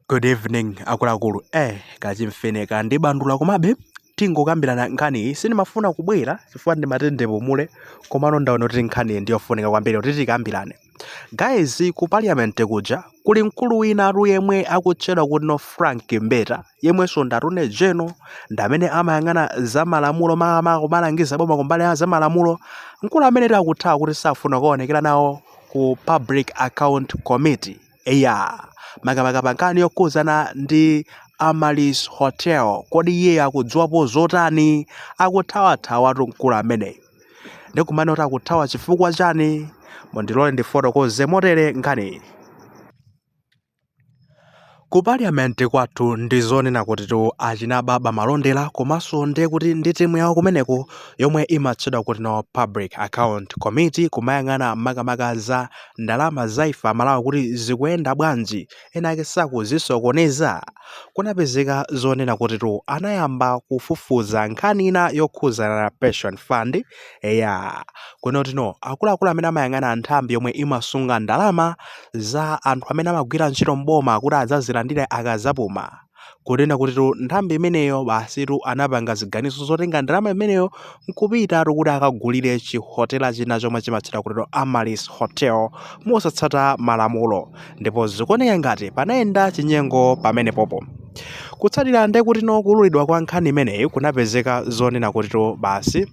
Good evening akuluakulu. Eh, kachimfine kandibandula komabe tingokambirana nkhani iyi sindimafuna kubwera chifukwa ndimati ndipumule komano ndaona kuti nkhani iyi ndiyofunika kwambiri kuti tikambirane. Guys ku parliament kuja kuli mkulu winatu yemwe akutchedwa kuti no Frank Mbeta yemwenso ndi Attorney General ndamene amayang'ana za malamulo makamaka kumalangiza boma kumbali ya za malamulo mkulu amenetu akuthawa kuti safuna kukaonekera nawo ku public account committee eya makamaka pa nkhani yokhuzana ndi Amaryllis Hotel kodi iye akudziwapo zotani akuthawathawatu mkulu ameneyi ndikumane kuti akuthawa chifukwa chani mundilole ndifotokoze motere nkhani Ku parliament kwathu ndi zonena kutitu achina Baba Malondera komanso ndiye kuti ndi timu yawo kumeneko yomwe imatchedwa kuti no public account committee kumayang'ana makamaka za ndalama za ife aMalawi kuti zikuyenda bwanji ena ake sakuzisokoneza kunapezeka zonena kutitu anayamba kufufuza nkhani ina yokhuzana na pension fund Eya, kunena kuti no akuluakulu amene amayang'ana nthambi yomwe imasunga ndalama za anthu amene amagwira ntchito m'boma kuti adzazilandire akazapuma kunena kutitu nthambi imeneyo basitu anapanga ziganizo zotenga ndalama imeneyo nkupitatu kuti akagulire chihotela china chomwe chimatchedwa kutitu Amaryllis Hotel mosatsata malamulo ndipo zikuoneka ngati panayenda chinyengo pamenepopo kutsatira nde kuti no kuululidwa kwa nkhani imeneyi kunapezeka zonena kutitu basi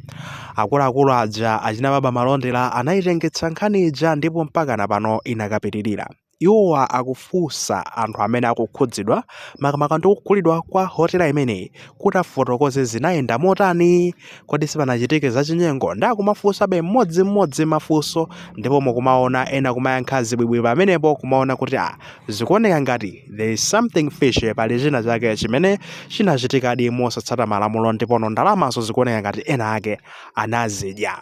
akuluakulu aja achina Baba Malondera anayitengetsa nkhani ija ndipo mpaka na pano inakapitirira iwowa akufunsa anthu amene akukhudzidwa makamaka ndi kugulidwa kwa hotela imeneyi kuti afotokoze zinayenda motani kodi sipanachitike zachinyengo nde akumafunsabe mmodzimmodzi mafunso ndipo mukumaona ena kumayankha zibwibwi pamenepo kumaona kuti a zikuoneka ngati there is something fishy pali china chake chimene chinachitikadi mosatsata malamulo ndipono ndalamazo zikuoneka ngati ena ake anazidya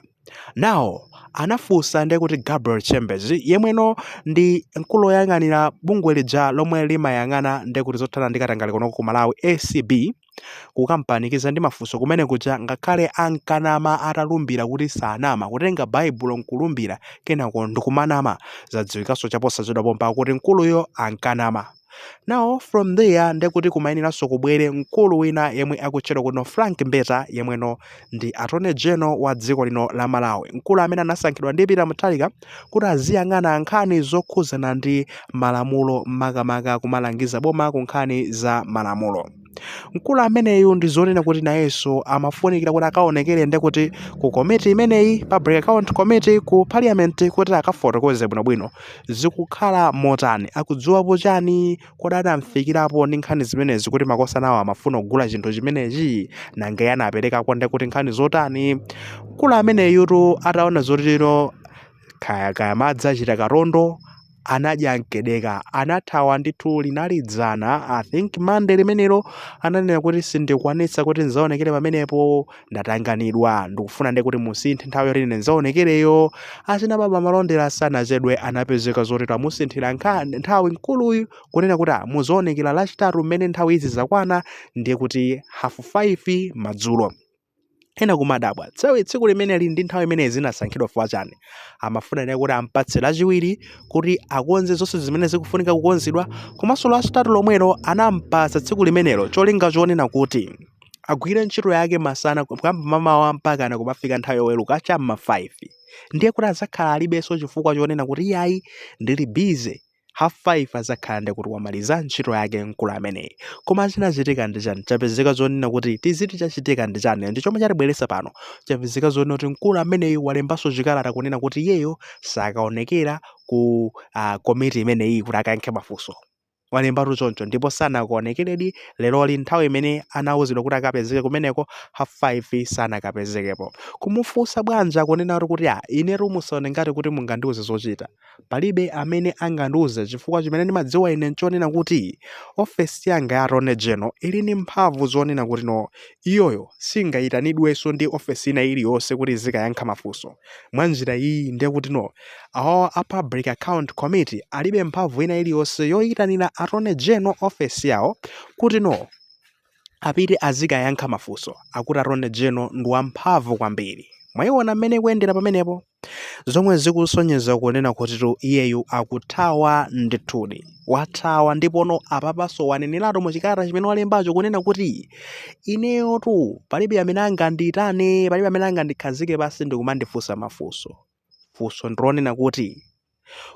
Now, anafunsa ndiye kuti Gabriel Chembezi yemweno ndi mkulu woyang'anira bungwe lija lomwe limayang'ana ndiye kuti zothana ndi katangale kunoko ku Malawi ACB kukampanikiza ndi mafunso kumene kuja ngakhale ankanama atalumbira kuti sanama kutenga baibulo nkulumbira kenako ndikumanama zadziwikanso chaposachedwa pompa kuti mkuluyo ankanama Now from there ndekuti kumayeneranso kubwere mkulu wina yemwe akutchedwa kuti no Frank Mbeta yemweno ndi Attorney General wa dziko lino la Malawi, mkulu amene anasankhidwa ndi Peter Mutharika kuti aziyang'ana nkhani zokhuzana ndi malamulo makamaka kumalangiza boma ku nkhani za malamulo. mkulu ameneyu ndi zonena kuti nayenso amafunikira kuti akaonekere ndi kuti ku komiti imeneyi public account committee ku parliament kuti akafotokoze bwinobwino zikukhala motani akudziwapo chani kodi anamfikirapo ndi nkhani zimenezi kuti makosanawo amafuna kugula chinthu chimenechi nanga iye anaperekako ndi kuti nkhani zotani mkulu ameneyutu ataona zotero kaya kaya madzi achita katondo anadya mkedeka anathawa ndithu linali dzana i think mande limenelo ananena kuti sindikwanitsa kuti nzaonekere pamenepo ndatanganidwa ndikufuna ndi kuti musinthe nthawi yoti ine nzaonekereyo achina baba malondera sanachedwe anapezeka zoti amusinthira nkha- nthawi mkuluyu kunena kuti "Ah, muzaonekera lachitatu mmene nthawi izi zakwana ndiye kuti hafu 5 madzulo ena kumadabwa tsawi tsiku limeneli ndi nthawi imene zinasankhidwa fwa chani amafuna ndiye kuti ampatse lachiwiri kuti akonze zonse zimene zikufunika kukonzedwa komanso lachitatu lomwelo anampatsa tsiku limenelo cholinga chonena kuti agwire ntchito yake masana kuyamba mamawa mpakana kumafika nthawi yoweruka cha m'ma 5 ndiye kuti azakhala alibenso chifukwa chonena kuti iyayi ndili busy half 5 azakhala ndi kuti wamaliza ntchito yake mkulu ameneyi koma chinachitika ndi chani chapezeka zonena kuti tiziti chachitika ndi chani ndi chomwe chatibweresa pano chapezeka zonena kuti mkulu ameneyi walembanso chikalata kunena kuti iyeyo sakaonekera ku uh, komiti imeneyi kuti akayankhe mafunso walembatu choncho ndipo sanakaonekeredi leroli nthawi imene anawuzidwa kuti akapezeke kumeneko half 5 sanakapezekepo kumufunsa bwanja kunena kuti a inetu musaone ngati kuti mungandiuze zochita Palibe amene angandiuze chifukwa chimene ndimadziwa ine nchonena kuti ofesi yanga ya Attorney General ili ndi mphamvu zonena kuti no, iyoyo singayitanidwenso ndi ofesi ina iliyonse kuti izikayankha mafunso. Mwa njira iyi ndiye kuti no, awawa a Public Account Committee alibe mphamvu ina iliyonse yoyitanira Attorney General ofesi yawo kuti no, apite azikayankha mafunso akuti Attorney General ndi wamphamvu kwambiri mwayiona mmene ikuyendera pamenepo zomwe zikusonyeza kunena kutitu iyeyo akuthawa ndithudi wathawa ndipono apapanso waneneratu mu chikalata chimene walembacho kunena kuti ineyotu palibe amene angandiyitane palibe amene angandikhazike pasi ndikumandifunsa mafunso funso ndilonena kuti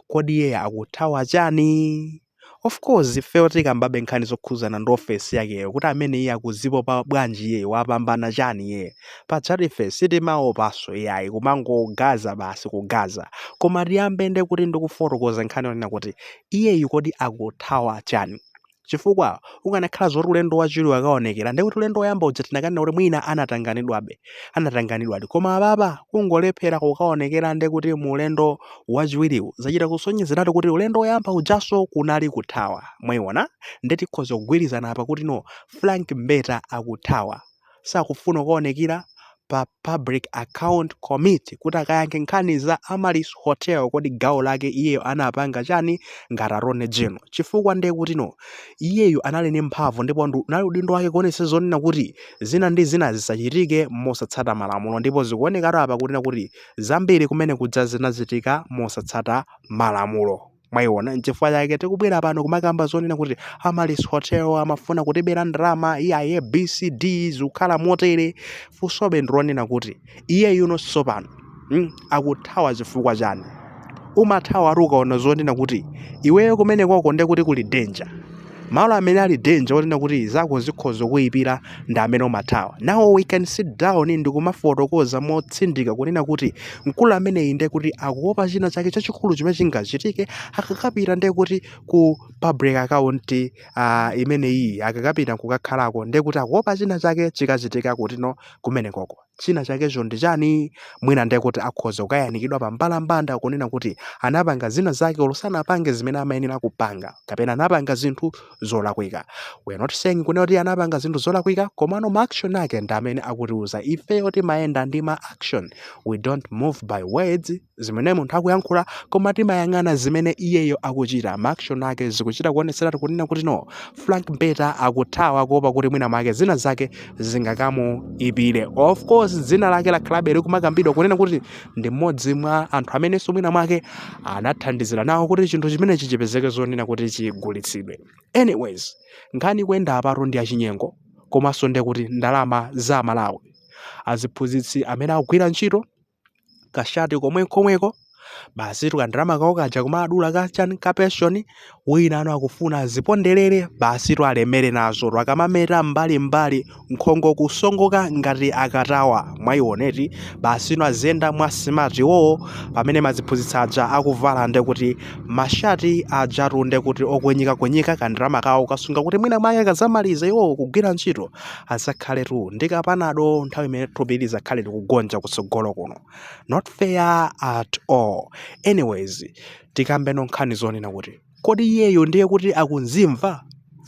kodi iye akuthawa chani? Of course ifeyo tikambabe nkhani zokhuzana ndi ofesi yakeyo kuti amene iye akuzipopa bwanji iye wapambana chani iye pajatu ife sitimaopaso iyayi kumangogaza basi kugaza koma tiyambe nde kuti ndikufotokoza nkhani yonena kuti iyeyu kodi akuthawa chani chifukwa ukanakhala zoti ulendo wachiwiriwu akaonekera ndiye kuti ulendo woyamba uja tinakanena kuti mwina anatanganidwabe anatanganidwadi koma apapa kungolephera kukaonekera ndiye kuti mu ulendo wachiwiriwu zachita kusonyezeratu kuti ulendo woyamba ujanso kunali kuthawa mwaiona ndiye tikhoza kugwirizana apa kuti no frank mbeta akuthawa sakufuna kukaonekira pa Public Account Committee kuti akayankhe nkhani za Amaryllis Hotel kodi gawo lake iyeyo anapanga chani ngati Attorney General chifukwa ndiye kuti no iyeyo anali ndi mphamvu ndipo ndu- unali udindo wake kuonetsa zonena kuti zina ndi zina zisachitike mosatsata malamulo ndipo zikuonekatu apa kunena kuti zambiri kumene kuja zinachitika mosatsata malamulo. mwayiona nchifukwa chake tikubwera pano kumakamba zonena kuti amaryllis hotel amafuna kutibera ndalama iyayi abcd zikukhala motere funsobe ndilonena kuti iyeyu no sopano mm, akuthawa chifukwa chani umathawa ati ukaona zonena kuti iweyo kumenekoko nde kuti kuli danger malo amene ali danger onena kuti zako zikhoza kuyipira ndi amene umathawa now we can sit down ndi kumafotokoza motsindika kunena kuti mkulu ameneyi ndiye kuti akuopa china chake chachikulu chimene chingachitike akakapita ndiye kuti ku public account uh, imeneyi akakapita kukakhalako ndiye kuti akuopa china chake chikachitika kuti no kumenekoko china chakecho ndi chani mwina ndiye kuti akhoza kukayanikidwa pa mbalambanda kunena kuti anapanga zina zake olo sanapange zimene amayenera kupanga kapena anapanga zinthu zolakwika we are not saying kunena kuti anapanga zinthu zolakwika komano ma action ake ndi amene akutiuza ifeyo timayenda ndi ma action we don't move by words zimene munthu akuyankhula koma timayang'ana zimene iyeyo akuchita maaction ake zikuchita kuonetseratu kunena kuti no frank mbeta akuthawa kuopa kuti mwina mwake zina zake zingakamuipire of course dzina lake lakhalabe likumakambidwa kunena kuti ndi mmodzi mwa anthu amenenso mwina mwake anathandizira nawo kuti chinthu chimenechi chipezeke zonena kuti chigulitsidwe anyways nkhani kuyenda apatu ndi achinyengo komanso ndekuti ndalama za malawi aziphunzitsi amene akugwira ntchito kashati komwe komweko basitu kandalama kawo kaja kumadula kachani ka pension wina ano akufuna aziponderere basitu alemere nazotu akamameta mbalimbali nkhongo kusongoka ngati akatawa mwayiona eti basitu aziyenda mwa smart iwowo pamene aziphunzitsi aja akuvala nde kuti mashati ajatu nde kuti okwinyikakwinyika kandalama kawo akusunga kuti mwina mwake akazamaliza iwowo kugwira ntchito azakhaletu ndi kapanado nthawi imene thupi lizakhale likugonja kutsogolo kuno not fair at all anyways tikambeno nkhani zonena kuti kodi iyeyo ndiye kuti akunzimva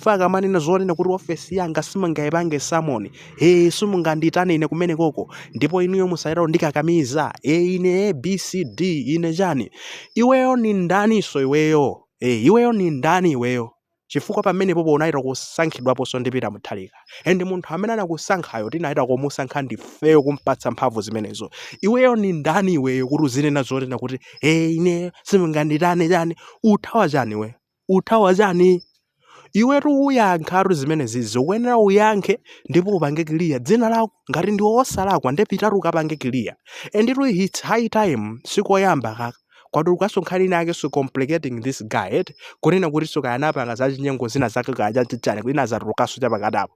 akamanena zonena kuti ofesi yanga simungayipange summon ee simungandiitane ine kumenekoko ndipo inuyo musayitalo ndikakamiza ee ine abcd ine chani iweyo ni ndaniso iweyo ee iweyo ni ndani iweyo chifukwa pamenepopo unachita kusankhidwaponso ndi Peter Mutharika and munthu amene anakusankhayo tinachita kumusankha ndifeyo kumpatsa mphamvu zimenezo iweyo ni ndani iweyo kuti uzinena zonena kuti e ine simunganditane chani uthawa chani we uthawa chani iwetu uyankhatu zimenezi zikuyenera uyankhe ndipo upange clear dzina lako ngati ndiwe wosalakwa nde pitatu ukapange clear and it's high time sikoyamba kaka kwadulukanso nkhani ina yake so complicating this guy eti kunena kuti so kaya anapanga za chinyengo zina zake kaya chachichani kuti nazatulukanso chapakati apo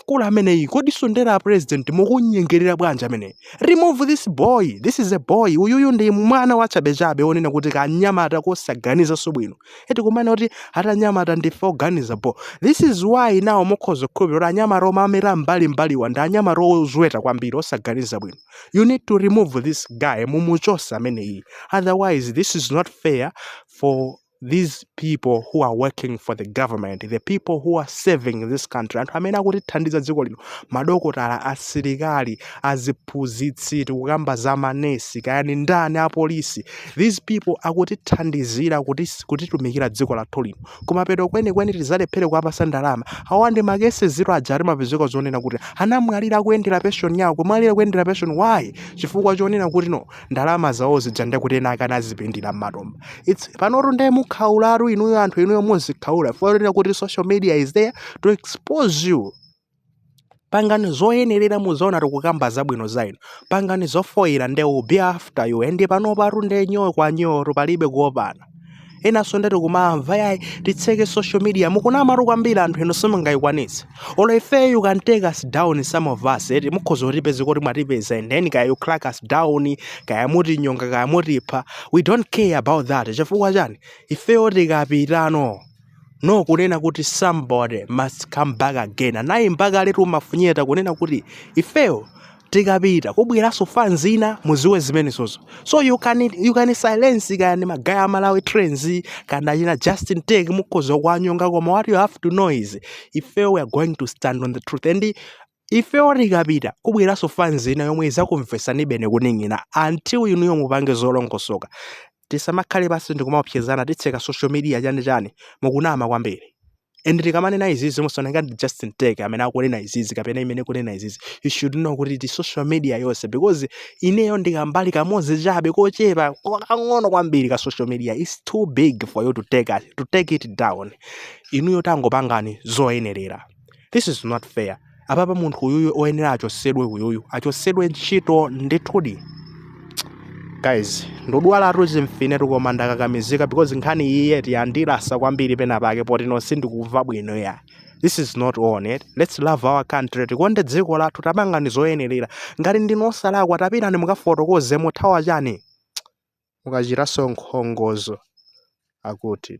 mkulu ameneyu kodi sondera a president mukunyengerera bwanji ameneyu remove this boy this is a boy uyuyu ndi mwana wachabechabe onena kuti kanyamata kosaganizanso bwino eti kumana kuti atanyamata ndife oganiza bo this is why now mukhoza kukhulupirira kuti anyamata omera mbalimbaliwa ndi anyamata ozweta kwambiri osaganiza bwino you need to remove this guy mumuchose ameneyu otherwise this is not fair for these people who are working for the government the people who are serving this country anthu amene akutithandiza dziko lino madokotala asilikali aziphunzitsi tikukamba za manesi kaya ni ndani apolisi these people akutithandizira kutitumikira dziko lathu lino kumapeto kwenikweni tizalephere kuwapasa ndalama awa ndi makesi ziro aja timapezeka zonena kuti anamwalira akuyendera pension yawo kumwalira kuyendera pension why chifukwa chonena kuti no ndalama zawo zija ndekuti ena ake anazipindira m'matumba it's panotu ndiye mukhaulatu inuyo anthu inuyo muzikhaula fukwa chonena kuti social media is there to expose you pangani zoyenerera muzaona tikukamba zabwino za inu pangani zofoyira nde we'll be after you and panopatu nde nyoo kwa nyoo palibe kuopana enanso ndakumamva yayi titseke social media mukunamatu kwambiri anthu inu simungayikwanitse olo ifeyo you can take us down some of us eti mukhoza kutipeza kuti mwatipeza and then kaya you crack us down kaya mutinyonga kaya mutipha we don't care about that chifukwa chani ifeyo tikapitano no kunena kuti somebody must come back again anayimba kale tu Mafunyeta kunena kuti ifeyo tikapita kubweranso fans ina muziwe zimenezo so you can, you can silence kani magaya a Malawi Trends kana china Justin Tech mukhoza kuwanyonga koma what you have to know is ifeyo we are going to stand on the truth and Ifeyo tikapita kubweranso fans ina yomwe izakumvesanibeni kuning'inina until inuyo mupange zolongosoka. Tisamakhale pansi ndikumaopsezana titseka social media chani chani. Mukunama kwambiri. And tikamanena izizi musaone ngati ndi Justin Tech amene akunena izizi kapena imene ikunena izizi. You should know kuti ndi social media yonse because ineyo ndi kambali kamodzi chabe kochepa kakang'ono kwambiri ka social media. It's too big for you to take, to take it down. Inuyo tangopangani zoyenerera. this is not fair apapa munthu uyuyu oyenera achosedwe uyuyu achosedwe ntchito ndithudi guys ndodwalatu chimfinetu koma ndakakamizika because nkhani iyiyi eti yandilasa kwambiri pena pake poti no sindikumva bwino ya this is not on it let's love our country tikonde dziko lathu tapangani zoyenerera ngati ndinu osalakwa tapitani mukafotokoze muthawa chani mukachitanso nkhongozo akuti